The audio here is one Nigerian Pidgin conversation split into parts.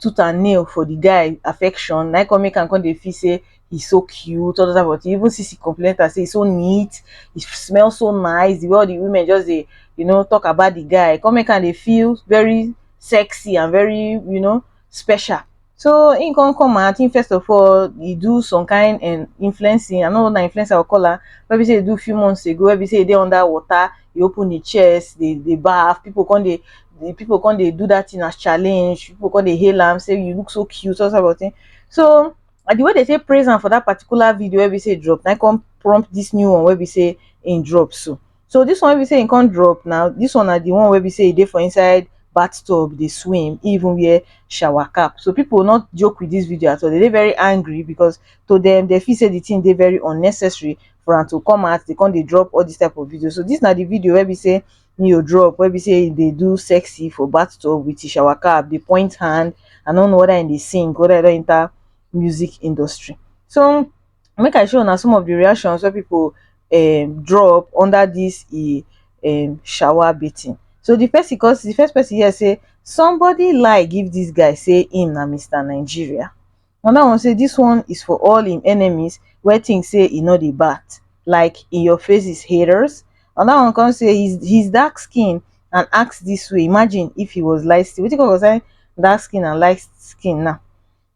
tooth and nail for the guy affection na come make am come dey feel say he's so cute all those type of thing even sisi complain later say he's so neat he smell so nice the way all the women just dey you know talk about the guy come make am dey feel very sexy and very you know special so he come come out he first of all he do some kind and influencing i no know na influencer i go call am wey be say he do few months ago wey be say he dey under water dey open im chest dey dey baff, pipu come dey the pipu come dey do that thing as challenge, pipu come dey hail am say you look so cute all those kind of thing so and the way dey take praise am for that particular video wey be say e drop na im come prompt this new one wey be say im drop so, so this one wey be say im come drop now this one na the one wey be say e dey for inside bath tub dey swim im even wear shower cap so pipu no joke with this video at all dey dey very angry because to dem dey feel say the thing dey very unnecessary for am to come out dey come dey drop all this type of video so this na the video wey be say Neo drop wey be say e dey do sexy for bathtub with his shower cap dey point hand I no know whether im dey sing whether e don enter music industry so make I show una some of the reactions wey people um, drop under this e um, shower bathing so the person cause the first person here say somebody lie give this guy say him na mr nigeria Another one say this one is for all him enemies wey think say he no dey bat like in your faces haters. Another one come say his his dark skin and ask this way imagine if he was light skin wetin come concern dark skin and light skin now.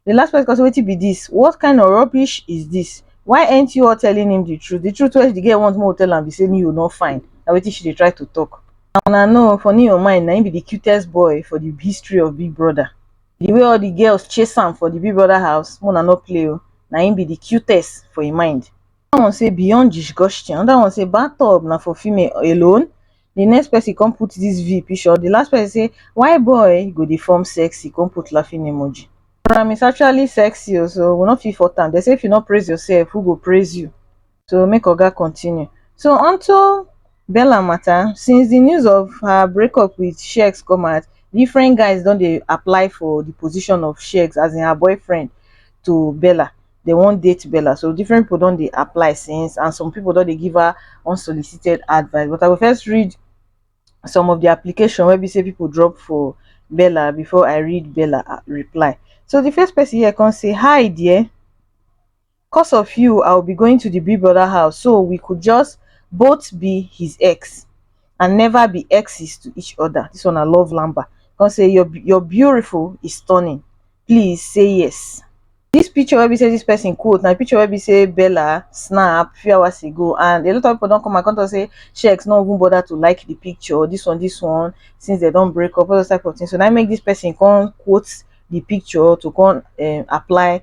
The last person come say wetin be this what kind of rubbish is this why ain't you all telling him the truth the truth wey the girl want make we tell am be say Neo no fine na wetin she dey try to talk. Una know for Neo mind na him be the cutest boy for the history of big brother. The way all the girls chase am for the Big Brother house, Mona no play o, na him be the cutest for him mind. Another one say beyond disgusting, another one say bathtub na for female alone, the next person come put this V picture, the last person say why boy go dey form sexy come put laughing emoji. Ram is actually sexy o so we no fit fault am, dem say if you no praise yourself who go praise you? to make oga continue so onto bella mata since di news of her break up wit sheggz come out different guys don dey apply for di position of sheggz as in her boyfriend to bella dem wan date bella so different pipo don dey apply since and some pipo don dey give her unsolicited advice but i go first read some of di application wey be say pipo drop for bella before i read bella reply so di first pesin here come say hi dear cos of you i will be going to the big brother house so we could just both be his ex and never be exes to each other this one i love lamba come say your your beautiful is stunning please say yes this picture where we say this person quote now picture where we say bella snap few hours ago and a lot of people don't come and come to say checks not even bother to like the picture this one this one since they don't break up all those type of things so now make this person come quote the picture to come um, apply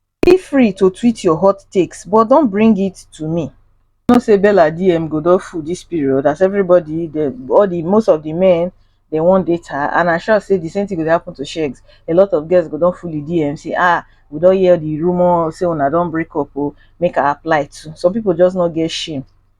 feel free to tweet your hot takes but don't bring it to me you know say bella dm go don full this period as everybody the all the most of the men they wan date her and i sure say the same thing go dey happen to shegs a lot of girls go don full the dm say ah we don hear the rumour say una don break up o make i apply too some people just no get shame